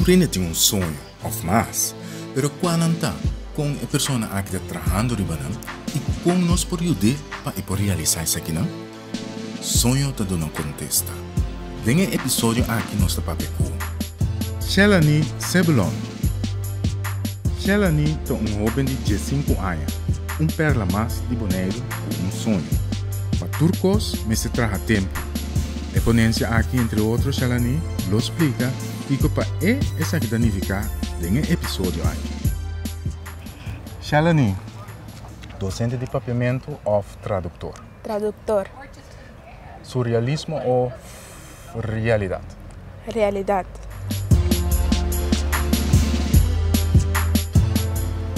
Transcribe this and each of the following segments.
Tur hende tin un soño of mas, pero kua nan ta, kon e persona aki ta trahando riba nan i kon nos por yud'é pa e por realisá esakinan? Soño ta duna'u kontesta. Den e episodio aki nos ta papia ku. Shelani Sebulon. Shelani ta un hoben di diesinku aña, un perla mas di Boneiru ku un soño. Pa tur kos mester traha tempu. E ponensia aki entre otro Shelani lo splika kiko pa e esaki ta nifiká den e episodio aki. Shelani, dosente di papiamentu òf traduktor. Traductor. Surrealismo o realidad? Realidad.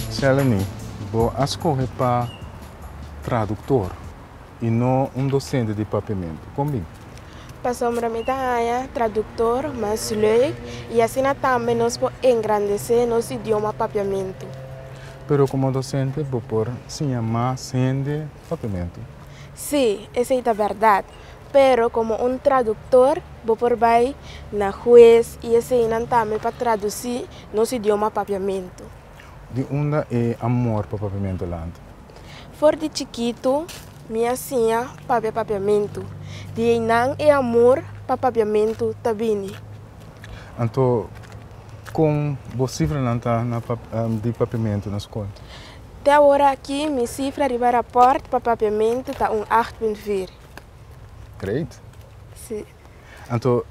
Seleni, bo a scoge pa traductor y no un docente di papiamento. Con bin? Pasobra mi ta haña traductor mas leuk y asina tambe nos por engrandece nos idioma papiamento. Pero como docente bo por siña mas hende. Sapimentu. Sí, esei ta bèrdat. Pero komo un traduktor, bo por bai na hues i eseinan tambe pa tradusí nos idioma papiamentu. Di unda e amor pa papiamentu lanta? For di chikitu, mi a siña papia papiamentu. Di einan e amor pa papiamentu ta bini. Anto kon bo sifranan ta di papiamentu na skol? Te awor aki mi sifra riba raport pa papiamentu ta un acht punt vir. Great. Sí. Anto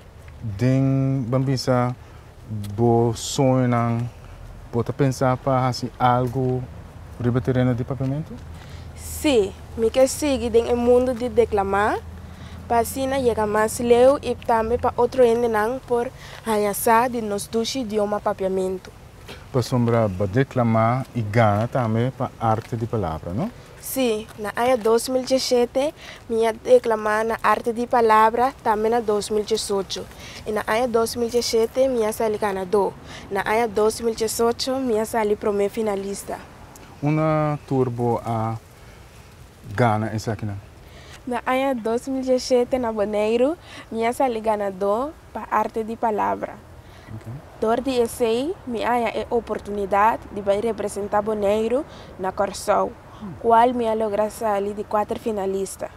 den ban bisa bo soñonan bo ta pensa pa hasi algu riba tereno di papiamentu? Sí, mi ke sigui den e mundu di deklamá pa asina yega mas leu i tambe pa otro hendenan por haña sa di nos dushi dioma papiamentu. Pasobra bo deklamá i gana tambe pa arte di palabra, no? Sí, na aña dos mil diesete mi a deklamá na arte di palabra, tambe na dos mil diesocho. I na aña dos mil diesete mi a sali ganadó. Na aña dos mil diesocho mi a sali promé finalista. Unda tur bo a gana esakinan? Na aña dos mil diesete na Boneiru mi a sali ganadó. pa arte di palabra. Dor di esei mi haña e oportunidad di bai representa Boneiru na Corsou, cual mi a logra sali di cuater finalista.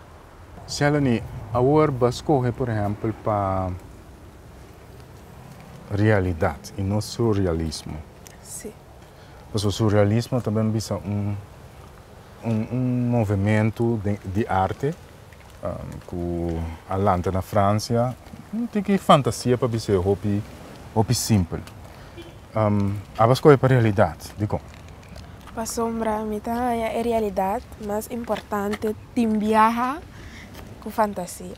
Shelony, awor bo a scoge por ehempel pa realidad y no surrealismo. Si. Pasobra surrealismo ta bien bisa un un un movemento di arte Ku a lanta na Fransia, no tin ki fantasia pa bisa e hopi, hopi simpel. A ba skohe pa realidat. Dikon? Pasobra mi ta haña e realidat mas importante tin biaha ku fantasia.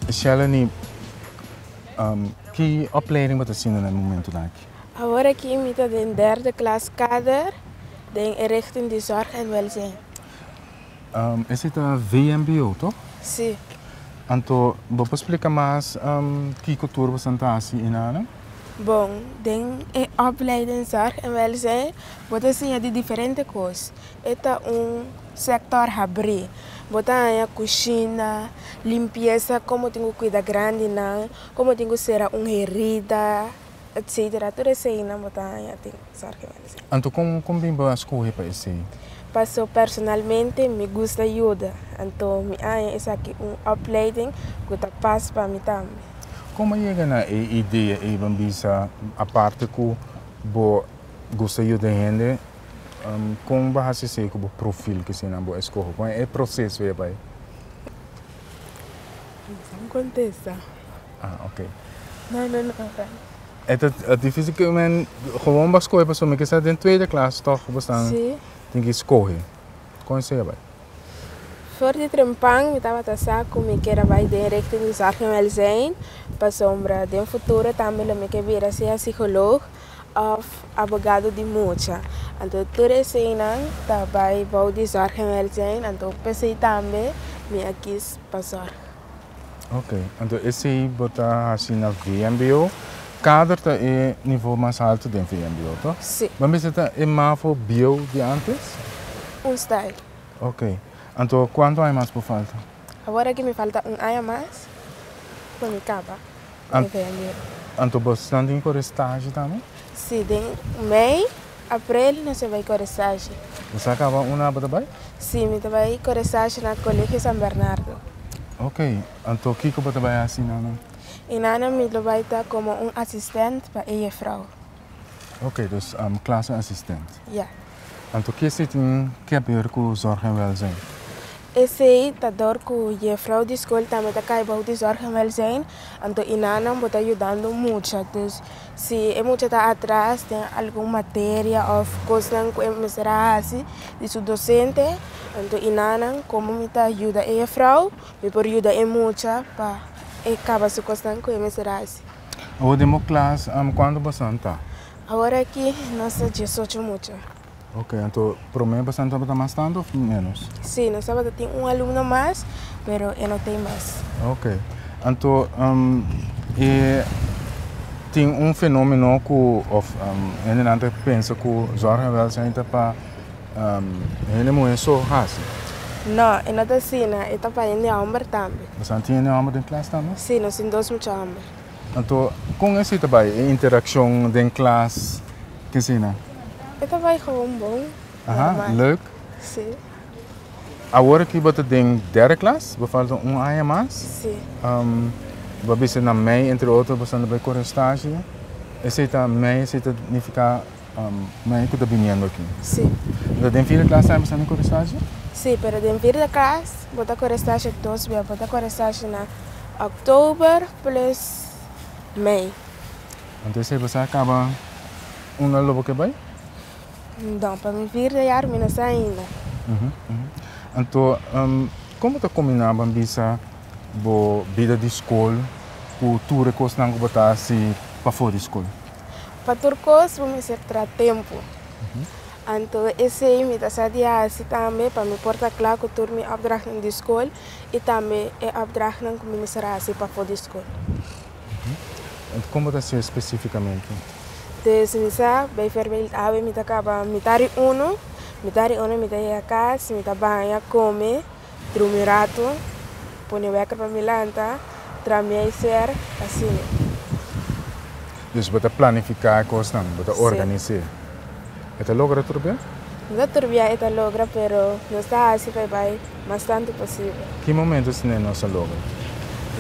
Sheleni, ki opleiding bo ta hasinda na e momentunan aki? Awor aki mi ta den derde klas kader den e richting di zorg en welzijn. Esei ta VMBO to? Si. Anto bo por splika mas kiko tur bo san ta hasi enanan? Bon, den e opleiding zorg en welzijn bo ta siña di diferente kos. E ta un sektor habrí. Bo ta haña kushina, limpiesa, komo tin ku kuida grandinan, komo tin ku sera un herida. etcetera tur esei nan bo ta haña tin sar ke mester haña. Anto kon kon bin bo a skohe pa esei? Paso personalmente mi gusta yuda, anto mi haña esaki un opleiding ku ta pas pa mi tambe. Kon a yega na e idea ei? Ban bisa aparte ku bo gusta yuda hende, kon bo hasi esei ku bo profil ke eseinan bo a skohe? Kon e proseso ei a bai? Kon kontesta. Ah, ok. No, no, no, ok. E ta e difícil que men gewoon ba scoge, paso me que sa den tweede klas toch ba staan Sí. tin que scoge. Con se bai? Voor di Trempan mi tabata sa cu mi kier a bai den richting di zorgen welzijn, pasobra den futuro tambe lo mi kier bira sea psycholoog of abogado di mucha. Anto tur eseinan ta bai bou di zorgen welzijn, anto p'esei tambe mi a kies pa zorg. Ok, anto esei bo ta hasi na VMBO. Kader ta e nivo mas alto den VMBO, to? Si. Bo a mester ta e mafo bio di antes? Un style. Ok, anto kuantu aña mas por falta? Awor aki mi falta un aña mas pa mi kaba. An, anto bosnan tin kore stashi tambe? Si, den mei, aprel nos a bai kore stashi. Bo sa kaba una bo ta bai? Si, mi ta bai kore stashi na Colegio San Bernardo. Ok, anto kiko bo ta bai hasi nan? E nan mi lo bai ta komo un asistent pa e yefrou. Oké, dus klase asistent. Ya. Anto ki esei tin ke habeur ku zorg en wèlzijn? Esei ta dor ku jefrou di skol tambe ta kai bou di zorg en wèlzijn, anto i nannan bo ta yudando mucha. Dus si e mucha ta atras den algun materia òf kosnan ku e mester a hasi di su dosente, anto i nannan komo mi ta yuda e jefrou, mi por yuda e mucha pa e kaba su kosnan ku e mester a hasi. Awor den bo klas, kuantu pasan ta? Awor aki nos ta diesocho mucha. Ok, anto promé pasan tabata mas tantu of ménos? Sí, nos tabata tin un alumno mas, pero e no ta ei mas. Ok, anto e tin un fenómeno ku of hende nan ta pensa ku Zorg en Welzijn ta pa. Hende muhé so hasi? No, e no ta asina, e ta pa hende homber tambe. Bosan tin hende homber den klas tambe? Sí, nos tin dos mucha homber. Anto, kon esei ta bai, e interakshon den klas? Ke asina? E ta bai gewoon bon, normal. Leuk? Sí. Awor aki bo ta den derde klas, bo falta un aña mas. Sí. Bo a bisa na mei, entre otro, boso a bai kore stashi. Esei ta mei, esei ta nifiká Mei ku ta biniendo aki. Sí. Enton den vierde klas tambe esnan den korestashi? Sí, pero den vierde klas bo ta korestashi dos bia. Bo ta korestashi na òktober plus mei. Anto esei bo sa kaba un al lo bo ke bai? Nò, pa mi vierde yar mi no sa ainda. Anto kon bo ta kombiná ban bisa bo bida di skol ku tur e kosnan ku bo ta hasi pafó di skol? Pa tur kos bo mester tra tempu. Anto esei mi ta sa di hasi tambe pa mi por ta kla ku tur mi opdrachtnan di skol i tambe e opdrachtnan ku mi mester hasi pafo di skol. Anto kon bo ta hasié spesifikamente? Des mi sa, bijvoorbeeld awe mi ta kaba mitad di unu, mitad di unu mi ta yega kas, mi ta baña, kome. Drumi un ratu, pone wekker pa mi lanta, tra mi ei ser, asina. Dus bo ta planifiká e kosnan, bo ta organis'é. E ta logra tur bia? No ta tur bia e ta logra, pero nos ta hasi pa e bai mas tantu posibel. Ki momentu sne nos a logra?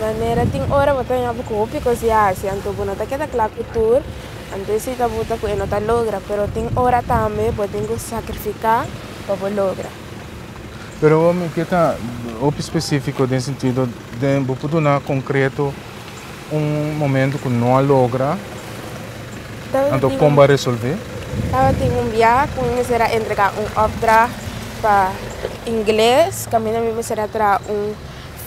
Manera tin ora bo ta ña bo ku hopi kos di hasi, anto bo no ta keda kla ku tur, anto e siña ta buta ku e no ta logra. Pero tin ora tambe bo tin ku sakrifiká pa bo logra. Pero awor mi ke ta hopi specifico den sentido den bo por duna concreto un momento cu no a logra anto con bo a resolve? Tabatin un bia cu mi mester a entrega un opdracht pa ingles caminda mi mester a traha un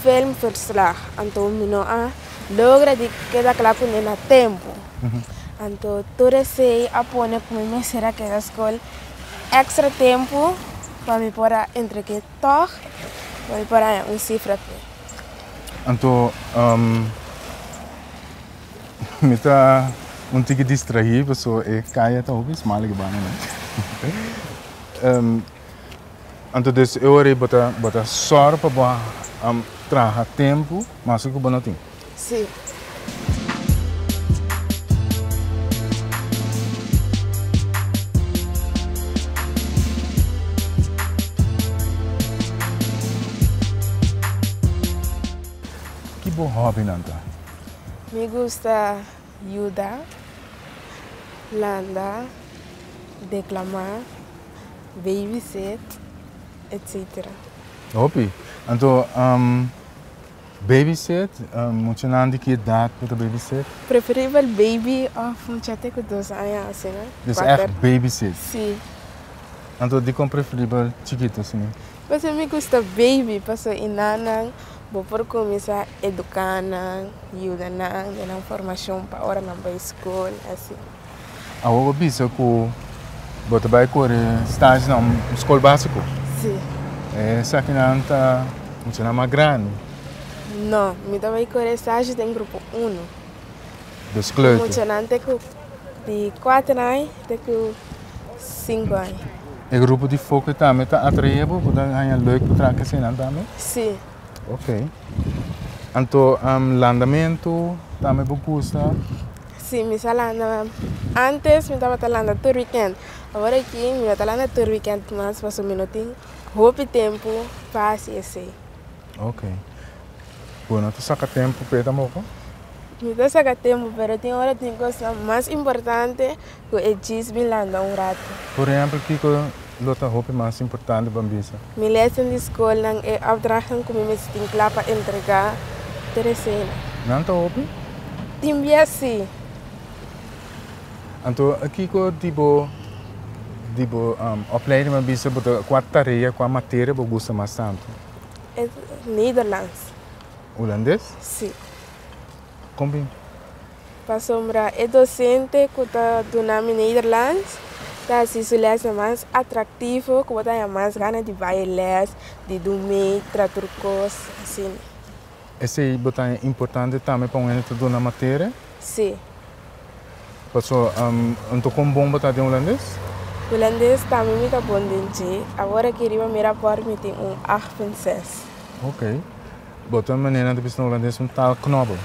film verslag anto mi no a logra di keda cla cu nen a tempo anto tur esey a pone cu mi mester a keda school. Extra tempu pa mi por a entregue tog pa mi por haña un cifra pe. Anto mi ta un tiki distrahi paso e caya ta hopi smal riba mi no. Anto des e ora ei bo ta sor pa bo traha tempu mas cu bo no tin. Ki bo hòbinan ta? Mi gusta yuda, landa, deklamá, babysit, etcetera. Hopi. Anto, Babysit, muchanan di ki edat ku ta babysit? Preferibel baby òf muchate ku dos aña asina. Des èf babysit? Sí. Anto dikon preferibel chikitu asina? Pasobra mi gusta baby, pasobra i nannan bo por kuminsá eduká nan, yuda nan, duna nan formashon pa ora nan bai skol, asi. Awo bo bisa ku bo ta bai kore stage na un skol básiko? Sí. E esakinan ta muchanan mas grandi? No, mi ta bai kore stage den grupo uno. Dos kleuter? Ku muchanan te ku di kuater ai te ku sinku ai. E grupo di foke tambe ta atraé bo? Bo ta haña leuk pa traha ku eseinan tambe? Sí. Ok. Anto, landamentu tambe bo gusta? Si mi sa landa antes mi tabata landa tur weekend awor aki mi no ta landa tur weekend mas pasobra mi no tin hopi tempo pa hasi esey. Ok bo no ta saka tempo pe tampoco? Mi ta saka tempo pero tin ora tin cosnan mas importante Cu e djis bin landa un rato. Por ehempel, kico lo ta hopi mas importante pa mi bisa? Mi lesen di scolnan. E opdrachtnan cu mi mester tin cla pa entrega Teresena. Nan ta hopi? Tin bia si. Anto, kico di bo di bo opleiding a bisa bo ta cua tarea, cua materia bo gusta mas tanto? E Nederlands. Hulandes? Si. Pasobra e dosente ku ta duna mi Nederlands ta hasi su lèsnan mas atraktivo ku bo ta haña mas gana di bai e lès, di dun mee, tra tur kos asina. Esei bo ta haña importante tambe pa un hende ta duna materia? Sí. Paso, anto kon bon bo ta den hulandes? Hulandes tambe mi ta bon den dje. Awor aki riba mi rapòrt mi tin un acht punt ses. Ok. Bo ta manera nan ta bisa holandés un taal knobel.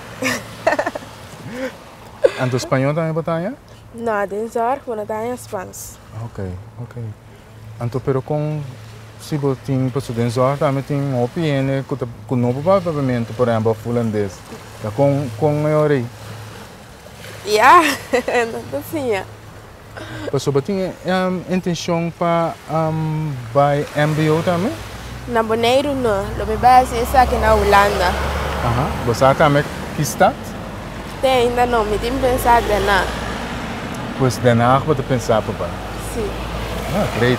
Anto spañol tambe bo ta haña? No, den zorg bo no ta haña spans. Ok, ok. Anto pero kon si bo tin, paso den zorg tambe tin hopi hende ku ta ku no papá papamento, por ehempel of holandés. Da kon kon e ora ei? Ya, nan ta siña. Pasobra tin e intencion pa bay mbo tambe? Na Boneiru no, lo mi bay haci esaki na Hulanda. Aha, bo sa tambe ki stad? Te ainda no, mi tin pensa Den Haag. Pues Den Haag bo ta pensa pa bay? Si. Ah, great.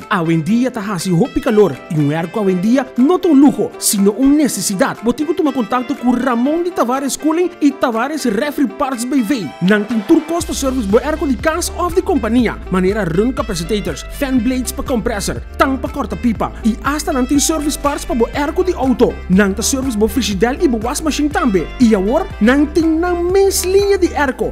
Awendia ta hasi hopi kalor i un hèrku awendia no ta un luho, sino un nesesidat. Bo tin ku tuma kontakto ku Ramon di Tavares Cooling i Tavares Refri Parts BV. Nan tin tur kos pa sèrvis bo hèrku di kas òf di kompania, manera run kapasitators, fan blades pa komprèsor, tang pa kòrta pipa, i asta nan tin sèrvis parts pa bo hèrku di outo. Nan ta sèrvis bo frishidèl i bo was mashin tambe. I awor nan tin nan mes liña di hèrku.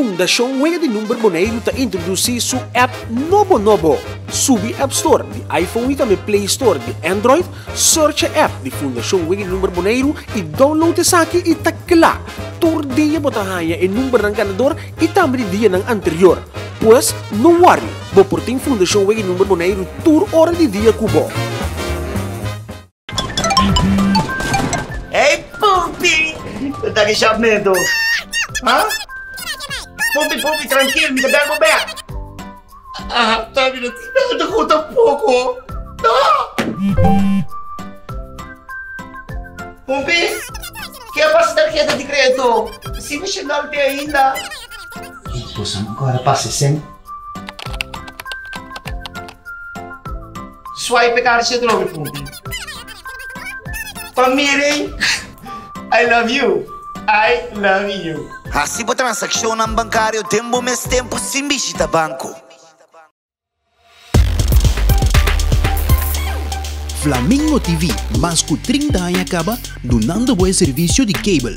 Fundashon Wega di Number Boneiru ta introdusí su app nobo nobo! Subi App Store di iPhone i tambe Play Store di Android, searcha app di Fundashon Wega di Number Boneiru i download esaki i ta kla! Tur dia bo ta haña e numbernan ganador i tambe di dianan anterior. Pues, no wòri, bo por tin Fundashon Wega di Number Boneiru tur ora di dia ku bo! Ey Pupi! Lo ta di shop neto. Ha? Pupi, Pupi, trankil, mi ta bel bo bek. Aha, ta bira ti bel ta ku tampoko. Ta! Pupi, ke a pasa tarheta di kreto? Sin mi shenal te ainda. Ey, boso no kore pasa esei. Swipe e kaartje te trobe punti. Pa Miri, I love you. I love you. Hasi bo transakshonnan bankario den bo mes tempu sin bishita banko. Flamingo TV mas ku trinta aña kaba dunando bo e servisio di cable.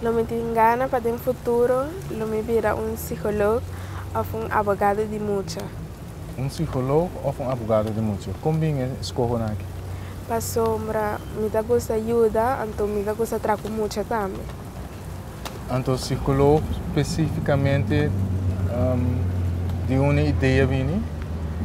Lo mi tin gana pa den futuro lo mi bira un psiholog of un abogado di mucha. Un psiholog of un abogado di mucha. Con bin e scoho nan aki? Pasobra mi ta gusta yuda anto mi ta gusta traha cu mucha tambe. Anto psiholog specificamente di unda idea bini?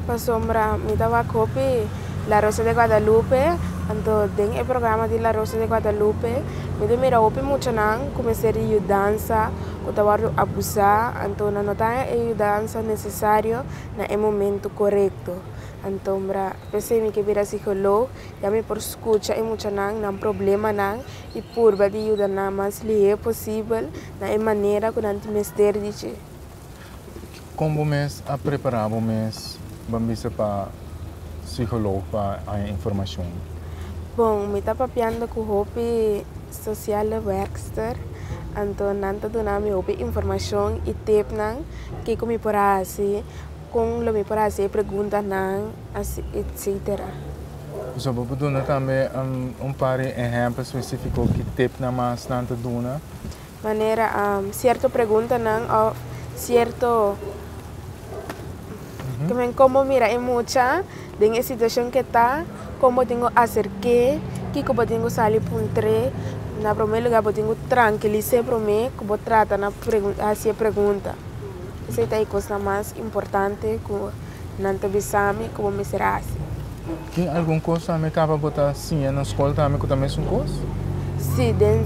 Pasobra mi ta wak hopi. La Rosa de Guadalupe, anto den e programa di La Rosa de Guadalupe mi ta mira hopi muchanan ku mester di yudansa ku ta wòrdu abusá, anto nan no ta haña e yudansa nesesario na e momentu korekto. Antombra p'esei mi ke bira sikolog i ami por skucha e muchanan nan problemanan i purba di yuda nan mas lihé posibel na e manera ku nan tin mester di dje. Kon bo mes a prepara bo mes ban bisa pa psikolog pa haña informashon? Bon, mi ta papiando ku hopi sosiale wèrkster, anto nan ta duna mi hopi informashon i tipnan kiko mi por hasi, kon lo mi por hasi e preguntanan, asi etsetera. Pasobra bo por duna tambe un par di ehèmpel spesífiko ku e tipnan mas nan ta duna? manera sierto preguntanan of sierto kimen kon bo mira e mucha den e situacion ke ta kon bo tin go acerke kiko bo tin go sali puntre na prome lugar bo tin go trankilise prome ku bo trata na hasi e pregunta esei ta e kosnan mas importante ku nan ta bisa mi ku bo mester hasi. Tin algun kos ta mi kaba bo ta siña na skol ta mi ku ta mesun kos? Sí, den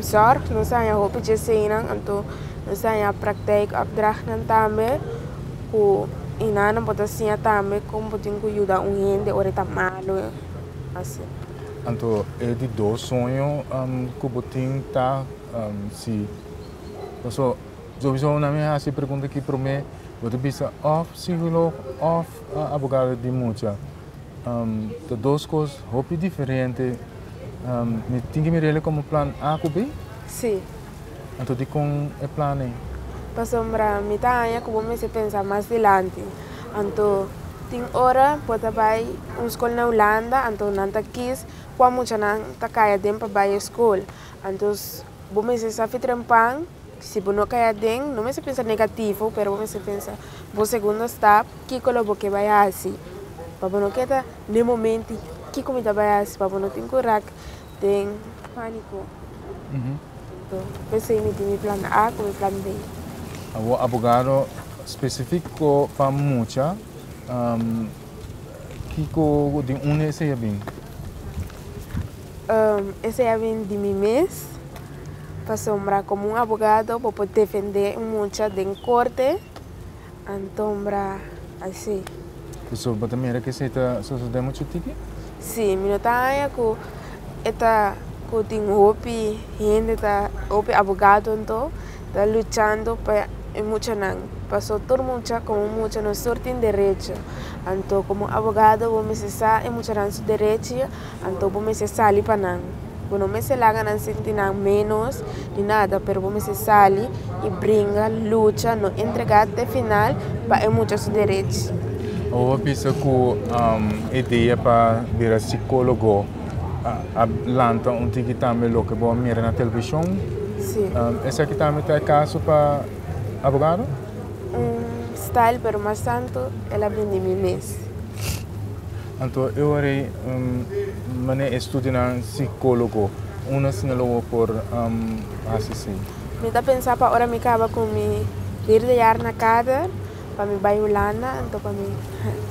zòrg nos ta haña hopi djesenan, anto nos ta haña praktijkopdrachtnan tambe ku i nan nan por ta siña tambe kon bo tin ku yuda un hende ora e ta malu i asi. Anto e di dos soño ku bo tin ta si paso. Sobri su nan mi hasi e pregunta aki promé, bo ta bisa òf sigolog òf Abogado di mucha ta dos kos hopi diferente. Mi tin ki mir'el komo plan A ku B? Sí. Anto dikon e plan ei? Pasobra mi ta haña ku bo mester pensa mas dilanti. Anto tin ora bo ta bai un skol na Hulanda, anto nan ta kis kua muchanan ta kaya den pa bai e skol. Anto bo mester sa fitren pan. Si bo no kai aden, no mester pensa negativo, pero bo mester pensa bo segundo stap, kiko lo bo ke bai hasi pa bo no keda n'e momenti, kiko mi ta bai hasi pa bo no tin ku rak den paniko, p'esei mi tin mi plan A ku mi plan B. Awor abogado, specifico pa mucha, kiko, di unda esei a bin? Esei a bin di mi mes, pasobra komo un abogado bo por defendé un mucha den korte, antombra a esei. Pasobra bo ta mira ku esei ta sosodé muchu tiki? Sí, mi no ta haña ku e ta ku tin hopi hende ta, hopi abogadonan ta luchando pa e muchanan, pasobra tur mucha komo un mucha nos tur tin derecho, anto komo un abogado bo mester sa e muchanan su derechi. Anto bo mester sali pa nan. Bo no mester laga nan sinti nan ménos ni nada, pero bo mester sali i bringa, lucha, no entregá te final pa e mucha su derech. Bo a bisa ku e idea pa bira sikólogo a lanta un tiki tambe loke bo a mira na televishon? Sí. Esaki tambe ta e kaso pa abogado? Un style, pero mas tantu el a bindi mi mes. Anto e wari mane e studionan psicologo una si na lo bo por hasi si. Mi ta pensa pa ora mi caba cu mi vierde jaar na kader pa mi bay Hulanda anto pa mi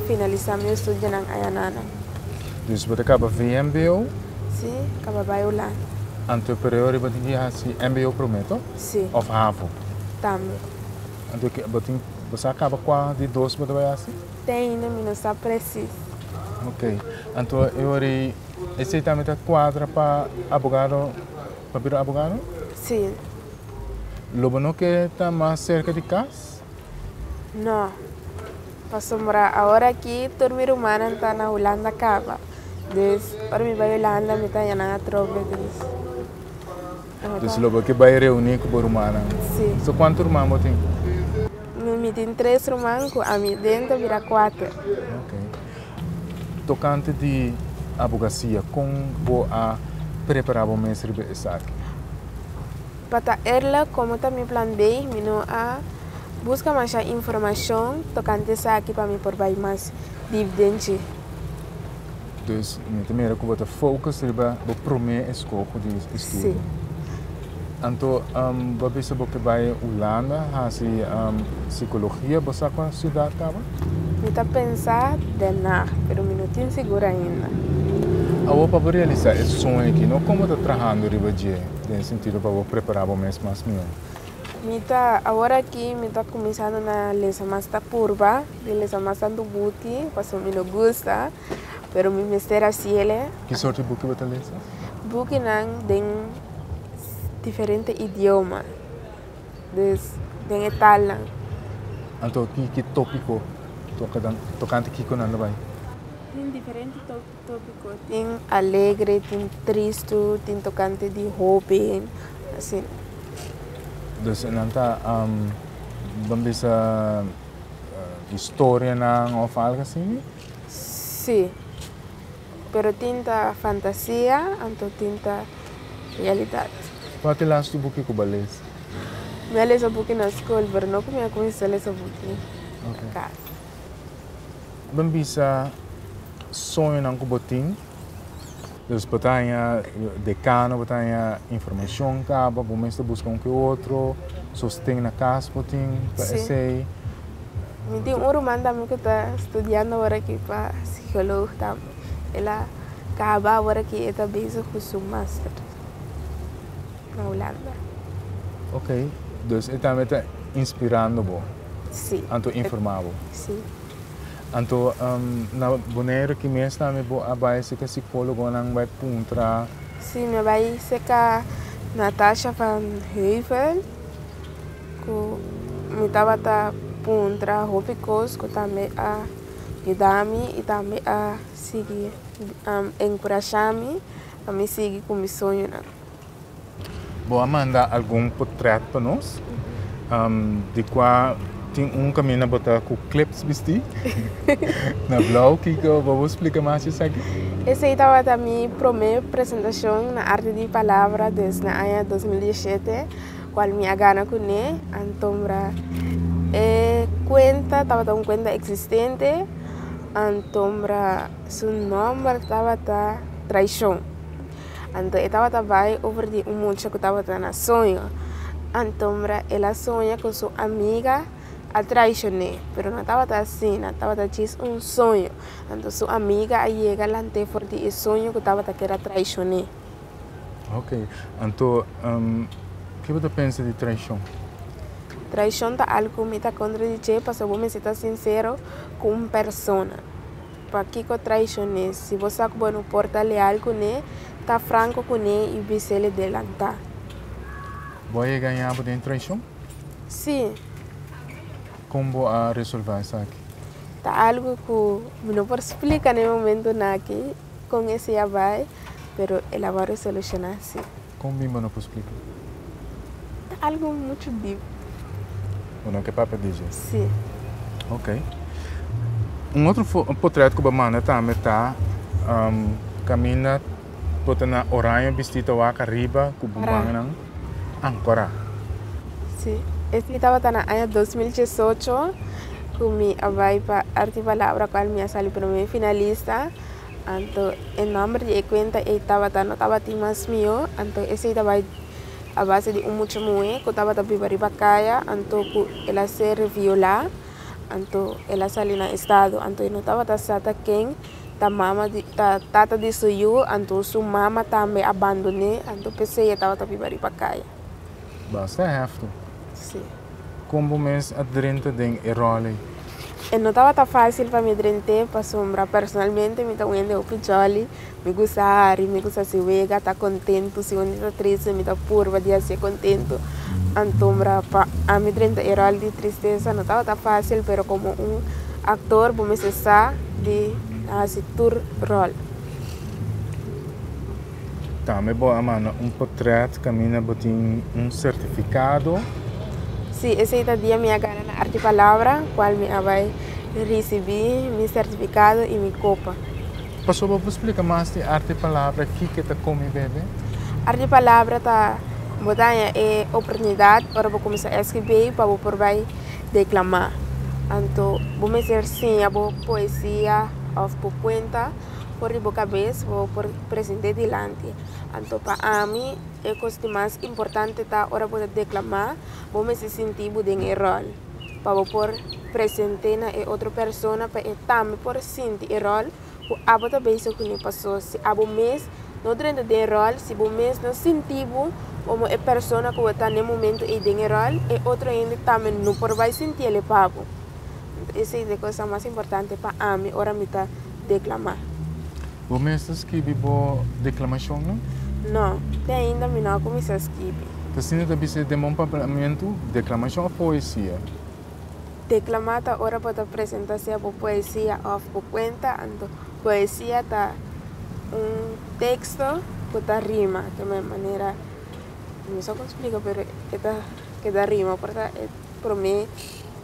finalisa mi studionan ayanana. Dus bo ta caba VMBO? Si, caba bay Hulanda. Anto e pereo riba tin di hasi mbo prome to? Si. Of havo? Tambe. Anto bo tin bo sa caba cua di dos bo ta bay hasi? Te ainda mi no sa presis. Ok, anto e ora ei esei tambe ta kuadra pa abogado, pa bira abogado? Si. Lo bo no ke ta mas serka di kas? No, pasobra awor aki tur mi rumannan ta na Hulanda kaba, dus ora mi bai Hulanda mi ta haya nan atrobe, dus. Dus lo bo ke bai reuni ku bo rumannan. So kuantu ruman bo tin? Mi tin tres ruman ku ami den ta bira kuater. Ok. Tokante di abogasia, kon bo a prepará bo mes riba esaki? Pa ta erlek, komo ta mi plan bei, mi no a buska masha informashon tokante esaki pa mi por bai mas dip den dje. Dus mi ta mira ku bo ta focus riba bo promé eskoho di estudio. Sí. Anto um, bo a bisa bo ke bai Hulanda hasi um, psikologia. Bo sa kua siudat kaba? Mi ta pensa Den Haag, pero mi no tin sigur ainda. Awo pa bo realisá e soño aki, no kon bo ta trahando riba dje den sentido pa bo prepará bo mes mas mihó? Mi ta, awor aki mi ta kuminsando na lesa mas ta purba. Mi mester mas tantu buki, pasobra mi no gusta, pero mi mester hasiele. Ki sort di buki bo ta lesa? Bukinan den diferente idioma, dus den e talnan. Anto ki ki tópiko tokante kiko nan lo bai? Tin diferente tópiko, tin alegre, tin tristu, tin tokante di hopi, asina. Dus nan ta, bambisa. historianan of algo asina? Sí. Pero tin ta fantasia anto tin ta realidad. Cua ta e lastu buki cu bo a lesa? Mi a lesa buki na scol pero no cu mi a cuminsa lesa buki na casa. Bo a bisa soñonan cu bo tin? Nos por ta haña dekano, por ta haña informashon kaba, bo mester buska un ku e otro, sosten na kas bo tin pa esei. Mi tin un ruman tambe ku ta studiando awor aki pa sikolog tambe. El a kaba awor aki, e ta bezig ku su master na Hulanda. Ok, dus e tambe ta inspirando bo, anto informa bo. Si. Anto na Boneiru aki mes tambe bo a bai si ta sikologonan bai puntra? Si, mi a bai seka Natasha van Heuvel ku mi tabata puntra hopi kos ku tambe a yuda mi i tambe a sigui enkurashami pa mi sigui ku mi soñonan. Bo a manda algun potret pa nos di kua tin un kamina bo ta ku clips bisti na blou kiko bo bo splika mas esaki. Esei tabata mi promé presentashon na Arte di Palabra des na aña dos mil dieshete kual mi a gana kuné antombra e kuenta tabata un kuenta eksistente antombra su nòmber tabata Traishon. Anto e tabata bai over di un mucha ku tabata na soño anto mira el a soña ku su amiga a traishoné pero no tabata asina tabata djis un soño anto su amiga a yega lant'e for di e soño ku tabata kere a traishoné. Ok anto ke bo ta pensa di traishon? Traishon ta algu ku mi ta kontra di dje pasobra bo mester ta sinsero ku un persona. Pa kico traicion'é? Si bo sa cu bo no por ta leal cu ne, ta franco cu ne y bisele delanta. Bo a engaña bo den traicion? Sí. Con bo a resolva esaki? Ta algo cu mi no por splica na e momento naki con esey a bay, pero el a worde soluciona si. Kon bimbo no por splica? Ta algo mucho deep. Bo no ke papia di dje? Sí. Ok. Un otro portret ku bo manda tambe ta kaminda bo ta na oraño bisti ta wak ariba ku bo mannan ankora. Sí. Ese tabata na aña dos mil diesocho ku mi a bai pa Arte y Palabra, kual mi a sali promé finalista. Anto e nomber di e cuenta ey tabata no tabatin mas mihó, anto esey ta bay a base di un mucha muhé cu tabata biba riba caya anto cu el a ser viola anto el a sali na estado anto e no tabata sa ta ken ta mama di ta tata di su yu anto su mama tambe a bandoné anto pesey e tabata biba riba caya. Basta hefty. Kon bo mes a drenta den e ròley? E no tabata fásil pa mi drent'é pasobra personalmente mi ta un hende hopi jòli. Mi gusta hari, mi gusta hasi wega, ta kontentu. Si un dia ta triste mi ta purba di hasié kontentu. Antombra pa ami drenta e ròl di tristesa no tabata fásil, pero komo un aktor bo mester sa di hasi tur ròl. Tambe bo a manda un potret caminda bo tin un certificado. Sí, esey ta dia mi a gana na Arte y Palabra, cual mi a bay ricibi mi certificado y mi copa. Pasobra bo por splica mas di Arte y Palabra, kico ta Come y Bebe? Arte y Palabra ta, bo ta haña e oportunidad ora bo cuminsa esci bay pa bo por bay declama. Anto bo mester siña bo poesia of bo cuenta for di bo cabes, bo por. Presente dilanti. Anto pa ami, e kos di mas importante ta ora bo ta deklamá, bo mester sinti bo den e ròl, pa bo por presente na e otro persona pa e tambe por sinti e ròl ku abo ta bese kuné. Pasó si abo mes no drenta den ròl, si bo mes no sinti bo komo e persona ku bo ta na e momentu ei den e ròl, e otro hende tambe no por bai sinti el'e pa bo. Esei ta e kosnan mas importante pa ami ora mi ta deklamá. Bo mester skibi bo deklamashonnan? No, te ainda mi no a kuminsá skibi. Te asina ta bisa e demon pa parlamentu? Deklamashon òf poesia? Deklamá ta ora bo ta presentá sea bo poesia òf bo kuenta, anto poesia ta un teksto ku ta rima. Ke me manera, mi no sa kon splika pero e ta keda rima por ta e promé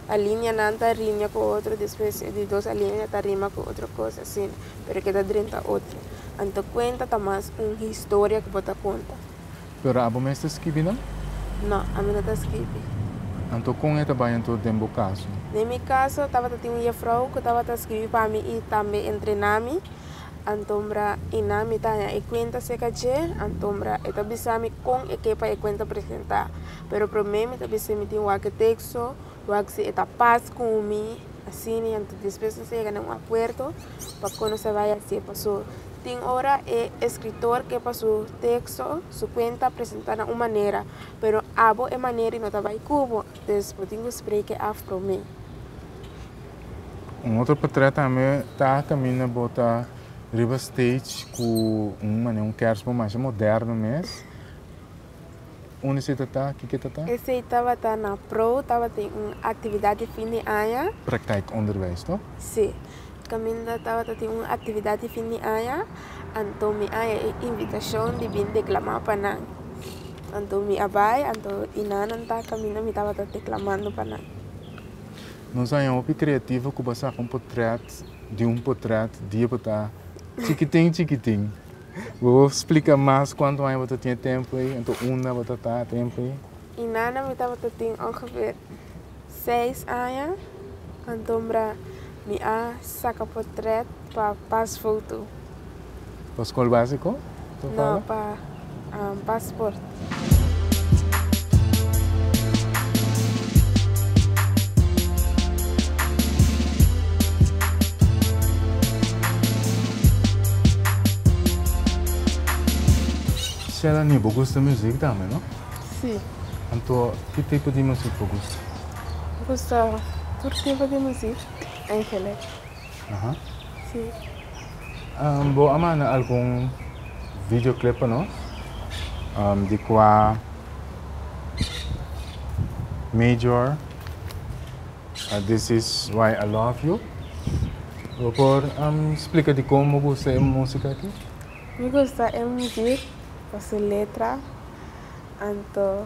alinianan ta riña ku otro, despues e di dos alinea ta rima ku otro kos asina. Pero e keda drenta otro. Anto cuenta ta mas un historia cu bo ta conta. Pero abo mes ta skibi nan? No, ami no ta skibi. Anto con e ta bay anto den bo caso? Den mi caso tabata tin un jefrouw cu tabata skibi pa mi y tambe entrena mi. Antombra Ina mi ta haña e cuenta seca dje, antombra e ta bisa mi con e ke pa e cuenta presenta. Pero prome mi ta bisa mi tin wak e texto Roxy, E ta pas ku mi asina i anto despues nos a yega na un akuerdo pa kon nos a bai hasi e paso. Tin ora e eskritor ke pa su teksto, su kuenta presentá na un manera, pero abo e manera i no ta bai ku bo, dus bo tin ku spreke af promé. Un otro potrèt tambe ta kaminda bo ta riba stage ku un manera un kèrsbom masha moderno mes. Un esei ta ta? Kiko e ta ta? Esei tabata na pro tabata den un actividad di fin di aña. Praktijk onderwijs to? Si. Caminda tabata den un actividad di fin di aña, anto mi a haña e invitacion di bin declama pa nan. Anto mi a bay, anto e nanan ta caminda mi tabata declamando pa nan. Nos a haña hopi creativo cu bo a saca un potret di un potret di e bo ta chikitin chikitin. Bo bo splica mas cuantu aña bo ta tin e tempo ey, ento unda bo ta ta e tempo ey? Y nana mi tabata tin ongeveer seis aña, antombra mi a saca portret pa pasfoto. Pa school basico? No pa passport. Shelanie, bo gusta muziek tambe, no? Si. Anto, ki tipo di muziek bo gusta? Bo gusta tur tipo di muziek, Angele. Aha. Sí. Um, bo a manda algun videoclip pa nos um, di qua Major uh, This is why I love you. Bo por um, explica di como gusta e música aquí. Mi gusta e mujer pa su letra, anto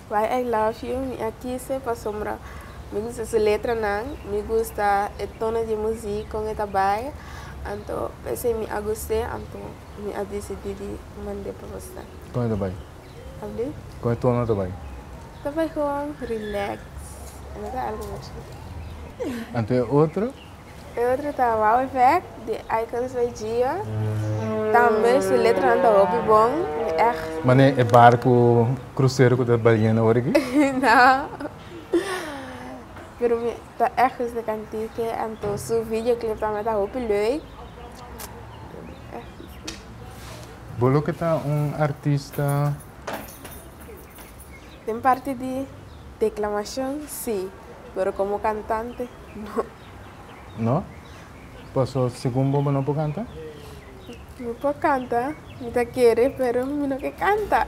Why I love you mi a kise pasobra mi gusta su letranan, mi gusta e tono di muzik kon e ta bai, anto p'esei mi a gust'e anto mi a disidí di mand'e pa boso. Kon e ta bai? Abi? Kon e tono ta bai? Ta bai gewoon relax, e no ta algu muchu. Anto e otro? E otro ta Wow Effect di Icons by Gio. Tambe su letranan ta hopi bon. Mi ègt. Mane e barku krusero ku ta baliendo ora aki? No. Pero mi ta ègt gusta kant'e. Anto su videoclip tambe ta hopi lüik. Mi ègt gusta. Bo loke ta un artista? Den parti di declamacion si, pero como cantante no. No? Paso segun bo bo no por canta? Mi por canta, mi ta kere pero mi no ke canta.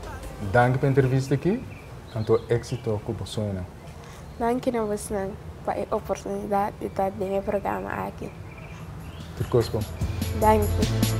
Danki pa e entrevista aki, anto éksito ku bo sueñonan. Danki na bosnan pa e oportunidat di ta den e programa aki. Tur kos bon. Danki.